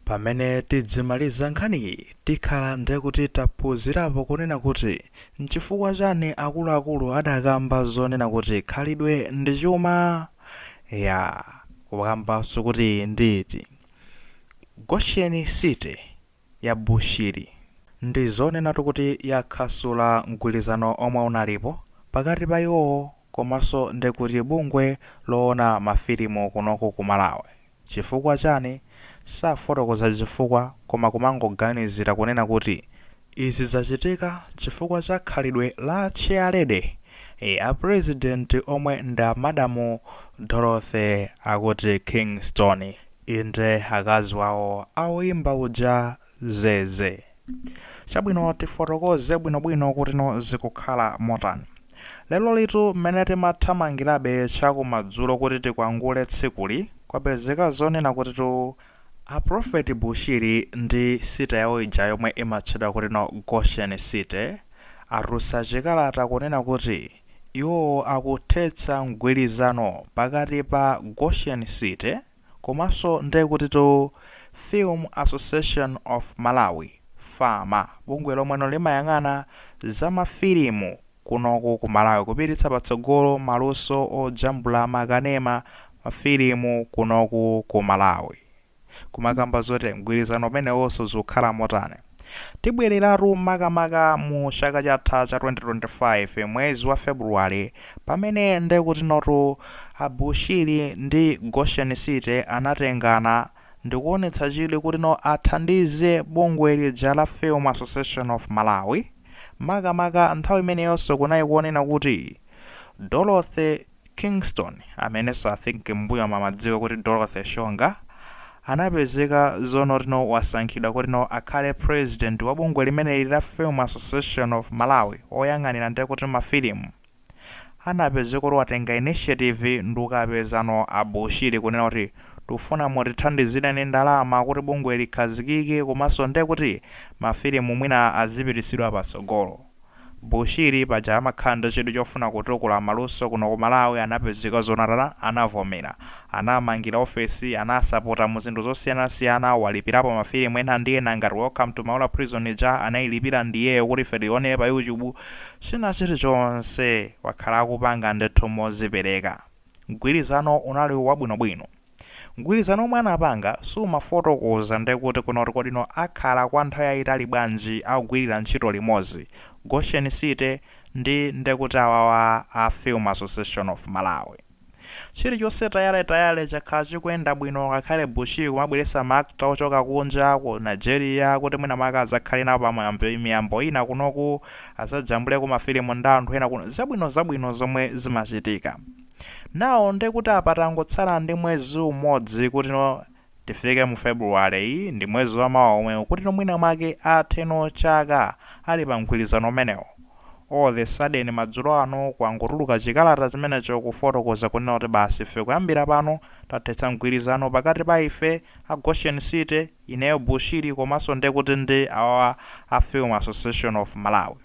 Pamene tidzimaliza nkhaniyi tikhala ndekuti taphunzirapo kunena kuti nchifukwa chani akuluakulu adakamba zonena kuti khalidwe ndi chuma? Ya kukambanso kuti nditi Goshen City ya Bushiri ndi zonenatu kuti yakhasula mgwirizano omwe unalipo pakati pa iwowo komanso ndekuti bungwe lowona ma filimu kunoku ku Malawi. Chifukwa chani? Sanafotokoze chifukwa koma kumangoganizira kunena kuti izi zachitika chifukwa cha khalidwe la chairlady a president omwe ndi a Madam Dorothy akuti Kingston, inde akazi wawo a oyimba uja Zeze. Chabwino, tifotokoze bwinobwino kutino zikukhala motani. Lerolitu mmene timathamangirabe chakumadzulo kuti tikwangule tsikuli, kwapezeka zonena kutitu A Prophet Bushiri ndi city yawo ija yomwe imatchedwa kutino Goshen City atulutsa chikalata kunena kuti iwo akuthetsa mgwirizano pakati pa Goshen City, komanso nde kutitu Film Association of Malawi, FAMA, bungwe lomweno limayang'ana za ma filimu kunoku ku Malawi kupititsa patsogolo maluso ojambula ma kanema, ma filimu kunoku ku Malawi kumakamba zoti mgwirizano umenewonso zikukhala motani? Tibwereratu makamaka mu chaka chatha cha 2025 mwezi wa February pamene ndekutinotu a Bushiri ndi Goshen City anatengana ndikuonetsa chidwi kutino athandize bungwe lija la Film Association of Malawi makamaka nthawi imeneyonso kunali kuonena kuti Dorothy Kingston, amenenso I think mmbuyomu amadziwika kuti Dorothy Shonga, anapezeka zonoti no wasankhidwa kuti no akhale president wa bungwe limeneli la Film Association of Malawi, oyang'anira nde kuti ma filimu, anapezeka kuti watenga initiative ndikukapezano a Bushiri kunena kuti tikufuna mutithandizireni ndalama kuti bungwe likhazikike komanso nde kuti ma filimu mwina azipititsidwa patsogolo. Bushiri paja amakhala ndi chidwi chofuna kutukula maluso kuno ku Malawi anapezeka zonoti atani anavomera. Anamangira ofesi, anasapota mu zinthu zosiyanasiyana, walipirapo ma filimu ena ndi ena ngati Welcome to Maula Prison ija anailipira ndiyeyo kuti ife tionere pa YouTube. China chilichonse wakhala akupanga ndithu mozipereka. Mgwirizano unali wabwinobwino. Mgwirizano womwe anapanga sumafotokoza nde kuti kunoti kodi no akhala kwa nthawi yayitali bwanji akugwirira ntchito limodzi, Goshen City ndi nde kuti awawa a Film Association of Malawi. Chilichonse tayaletayale chakhala chikuyenda bwino ngakhale Bushiri kumabweretsa ma actor ochoka kunja, ku Nigeria, kuti mwina mwake adzakhale nawo pa miyambo ina kunoku, adzajambuleko mafilimu ndi anthu ena kuno, zabwinozabwino zomwe zimachitika. Now nde kuti apa tangotsala ndi mwezi umodzi kutino tifike mu February yi ndi mwezi wa mawa omwewu kutino mwina mwake atheno chaka ali pa mgwirizano umenewo all of a sudden madzulo ano kwangotuluka chikalata chimenecho kufotokoza kunena kuti basi ife kuyambira pano tathetsa mgwirizano pakati pa ife a Goshen City, ineyo Bushiri komanso nde kuti ndi awa a Film Association of Malawi.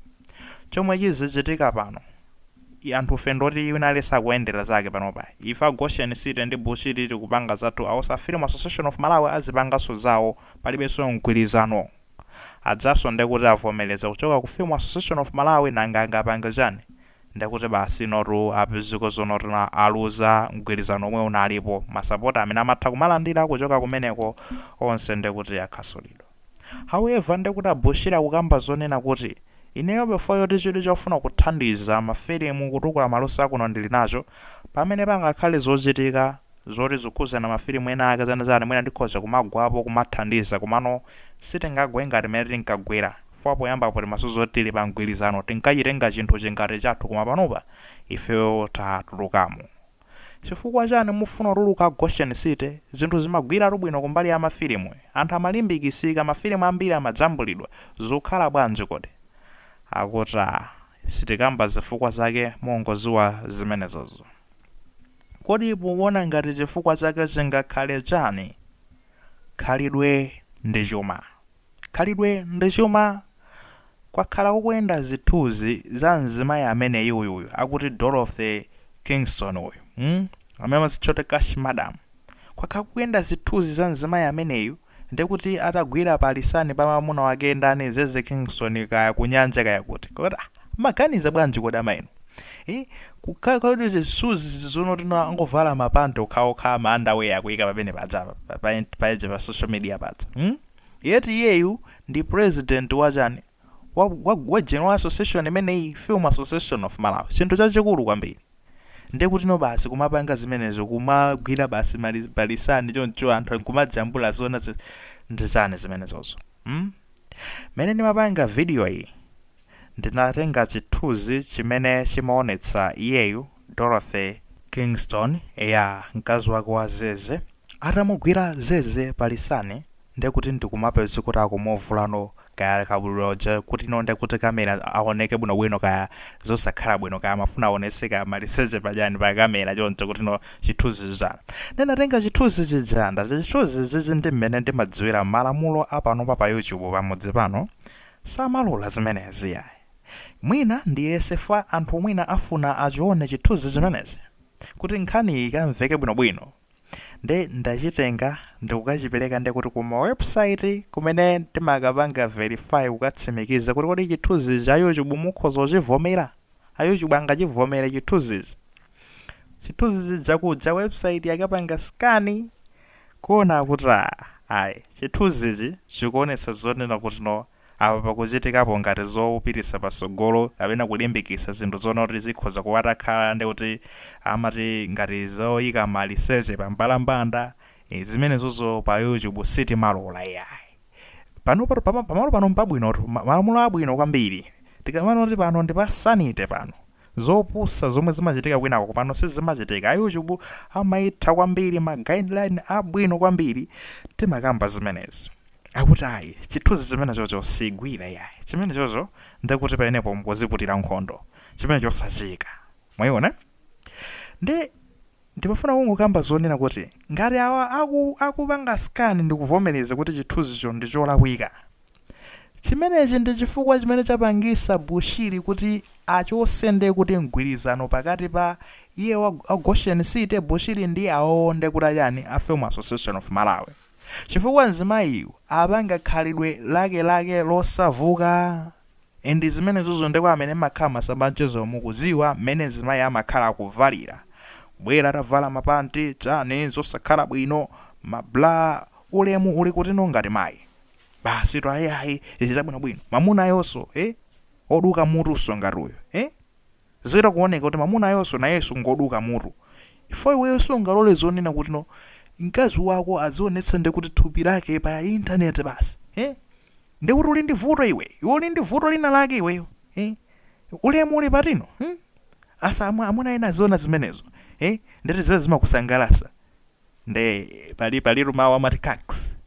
Chomwe chizichitika pano. anthufe ndoti wina aliyense akuendera zake panopa ife a Goshen city ndi Bushiri tikupanga zathu awanso a film association of Malawi azipanganso zawo palibenso mgwirizano ajanso ndekuti avomereza kuchoka ku film association of Malawi nanga angapange chani ndekuti basi inotu apezeka zoonatu aluza mgwirizano omwe unalipo masapota amene amatha kumalandira kuchoka kumeneko onse ndekuti akhasulidwa. However ndekuti a Bushiri akukamba zonena kuti, Ineyo poti nchoti chidwi chofuna kuthandiza ma filimu kutukula maluso akuno ndili nacho, pamene pangakhale zochitika zoti zikukhudzana ma filimu ena ake zani zani mwina ndikhoza kumagwapo kumathandiza komano sitingagwe ngati mmene tinkagwera chifukwa poyambapo timadziwa zoti tili pa mgwirizano tinkachitenga chinthuchi ngati chathu koma panopa ifeyo tatulukamo. Chifukwa chani mufuna kutuluka Goshen City? Zinthu zimayendatu bwino kumbali ya mafilimu. Anthu amalimbikisika, mafilimu ambiri amajambulidwa. Zikukhala bwanji kodi? Akuti ah, sitikamba zifukwa zake mungodziwa zimenezozo. Kodi mukuona ngati chifukwa chake chingakhale chani? Khalidwe ndi chuma. Khalidwe ndi chuma. Kwakhala kukuyenda zithuzi za mzimayi ameneyi uyu uyu akuti Dorothy Kingston uyu mm amene amazitcha kuti cash madam. Kwakhala kukuyenda zithuzi za mzimayi ameneyu ndekuti atagwira palisani pa mamuna wake ndani Zeze Kingston kaya ku nyanja kaya kuti. Kodi ah mmaganiza bwanji kodi ama inu? Ii kukhala kuti zithuzi zonotino angovala ma pant okhaokha ma underwear akuyika pamene paja pa pa pa pa social media paja mm. Yet iyeyu ndi president wa chani? Wa wa wa general wa association imeneyi? Film association of Malawi? Chinthu chachikulu kwambiri. Ndekutino basi kumapanga zimenezo kumagwira basi palisani choncho anthu nkumajambula zoona zi ndi zani zimenezozo? Hmm? Mmene ndimapanga video iyi ndinatenga chithuzi chimene chimaonetsa iyeyu. Dorothy Kingston, eya mkazi wake wa Zeze, atamugwira Zeze pa lisani ndekuti ndikumapeza kuti akumuvulano kaya kabudula uja kutino ndekuti camera aoneke bwino bwino kaya zosakhala bwino kaya amafuna aonetse kaya maliseche pa chani pa camera choncho kutino chithunzi chija ndinatenga chithunzi chija ndati chithunzi ichichi ndi mmene ndimadziwira malamulo a panopa pa YouTube pamudzi pano samalola zimenezi iyayi Mwina ndiyese fwa anthu mwina afuna achione chithunzi chimenechi kuti nkhaniyi ikamveke bwino bwino nde ndachitenga ndikukachipereka nde kuti kuma website kumene ndimakapanga verify kukatsimikiza kuti kodi chithunzi ichi a YouTube mukhoza kuchivomera? A YouTube angachivomere chithunzi ichi? Chithunzi chija kuja website yakapanga scan kuona kuti aah ayi chithunzi ichi chikuonetsa zonena kuti no Apa pakuchitikapo ngati zopititsa patsogolo kapena kulimbikitsa zinthu zonena kuti zikhoza kuwatakhala ndi kuti amati ngati zoyika maliseche pa mbalambanda ii zimenezozo pa YouTube sitimalola iyayi panopa pama pamalo pano mpabwinotu ma malamulo abwino kwambiri tikamanena kuti pano ndi pa sanity pano zopusa zomwe zimachitika kwinako pano sizimachitika a YouTube amaitha kwambiri ma guideline abwino kwambiri timakamba zimenezi akuti ayi chithunzi chimenechocho sigwira iyayi chimenechocho ndekuti pamenepo mkuziputira nkhondo chimenecho sachika mwayiona nde ndimafuna kungokamba zonena kuti ngati awa aku, akupanga scan ndikuvomereza kuti chithunzicho ndi cholakwika chimenechi ndi chifukwa chimene chapangisa Bushiri kuti achose nde kuti mgwirizano pakati pa iye wa wa Goshen City Bushiri ndi awowo ndekuti achani a Film Association of Malawi Chifukwa mzimayiyu apanga khalidwe lake lake losauka and zimenezozo nde kwa amene mmakhala masamba amchezo mukuziwa mmene mzimayi amakhala akuvalira kubwera atavala ma panti chani zosakhala bwino ma bra ulemu uli kutino ngati mayi basitu ayi ayi izi zabwinobwino mamunayonso ee oduka mutunso ngati uyu ee Zichita kuoneka kuti mamunayonso nayenso ngoduka mutu. Chifukwa iweyo sungalole zonena kuti no mkazi wako azionetsa ndi kuti thupi lake pa internet basi. He? Ndiye kuti uli ndi vuto iwe. Iwe uli ndi vuto lina lake iweyo. He? Ulemu uli pati no? Hmm? Asa amwe amuna ena aziona zimenezo. He? Ndekuti iwe zimakusangalasa. Nde pali pali mawu amati cucks.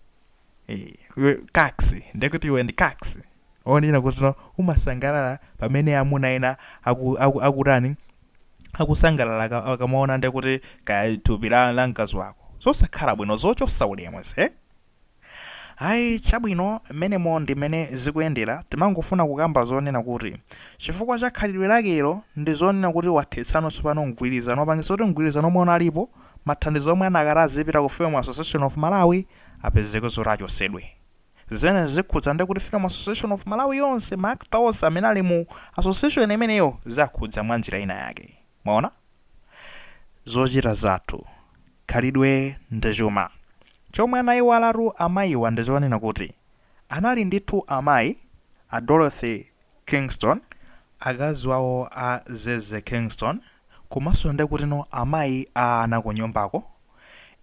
Eh, iwe kaxi ndekuti iwe ndi kaxi onena kuti no umasangalala pamene amuna ena aku- aku- akutani akusangalala aka- akamaona ndekuti kaya thupi la la mkazi wako zosakhala bwino zochotsa ulemu eti ayi chabwino mmenemo ndi mmene zikuyendera timangofuna kukamba zonena kuti chifukwa cha khalidwe lakelo ndi zonena kuti wathetsano tsopano mgwirizano, wapangitsa kuti mgwirizano omwe unalipo mathandizo omwe anakati azipita ku film association of malawi apezeke zoti achotsedwe. Zimenezi zikhudza nde kuti Film Association of Malawi yonse, ma actor onse amene ali mu association imeneyo zawakhudza mwa njira ina yake. Mwaona? Zochita zathu, khalidwe ndi chuma. Chomwe anaiwalatu amayiwa ndi chonena kuti anali ndithu amayi a Dorothy Kingston, akazi wawo a Zeze Kingston, komanso nde kuti no amayi a ana kunyumbako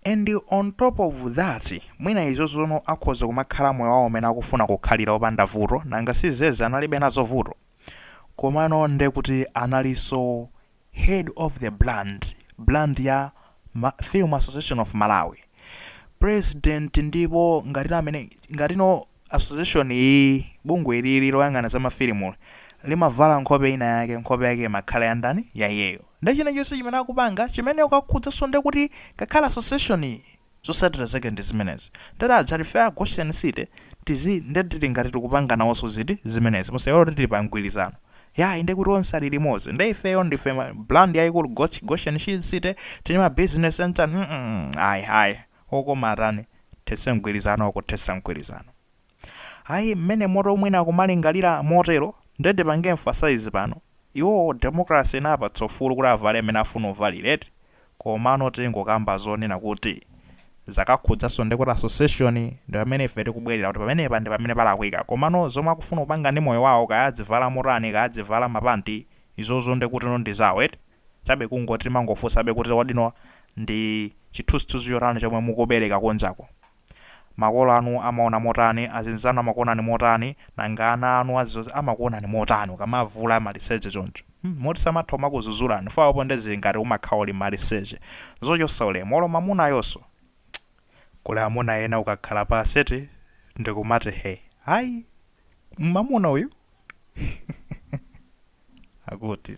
and on top of that mwina izozo no akhoza kumakhala moyo wawo umene akufuna kukhalira opanda vuto nanga si zeze analibe nazo vuto komano nde kuti analinso head of the brand brand ya film association of malawi president ndipo ngati amene ngati no Association iyiyi, bungwe ilili loyang'ana za mafilimuli, limavala nkhope ina yake, nkhope yake imakhala ya ndani? Ya iyeyo. Nde chilichonse chimene akupanga, chimene chikukakhudzanso nde kuti ngakhale association yi, zotsatira zake ndi zimenezi. Nde taza ife a Goshen City, tizi, nde tili ngati tikupanga nawonso ziti? Zimenezi. Musaiwale kuti tili pa mgwirizano. Yayi, nde kuti onse ali limodzi. Nde ifeyo ndife ma, brand yaikulu, Gotch, Goshen City, tili ma business center, mm ayi, ayi. okoma tithetse mgwirizano kuthetsa mgwirizano ayi mmene moto mwina kumalingalira motero nde ndipange emphasize pano iwowo democracy inawapatsa ufulu kuti avale mmene afuna uvalira eti komano tingokamba zonena kuti zakakhudzanso ndekuti association ndi pamene ife tikubwerera kuti pamenepa ndi pamene palakwika komano zomwe akufuna kupanga ndi moyo wawo kaya adzivala motani kaya adzivala mapanti izozo ndekutino ndi zawo eti chabe kungoti timangofunsabe kuti kodino ndi chithunzithunzi chotani chomwe mukupereka kunjako? Makolo anu amaona motani, azinzanu amakuonani motani, nanga ana anu azizozi amakuonani motani ukamavula maliseche choncho? Hmm, moti samatha kumakuzuzulani fwaa apo nde zili ngati umakhala uli maliseche. Zochotsa ulemu, olo mamunayonso. Kuli amuna ena ukakhala pansi eti ndikumati he, ayi mamuna uyu akuti.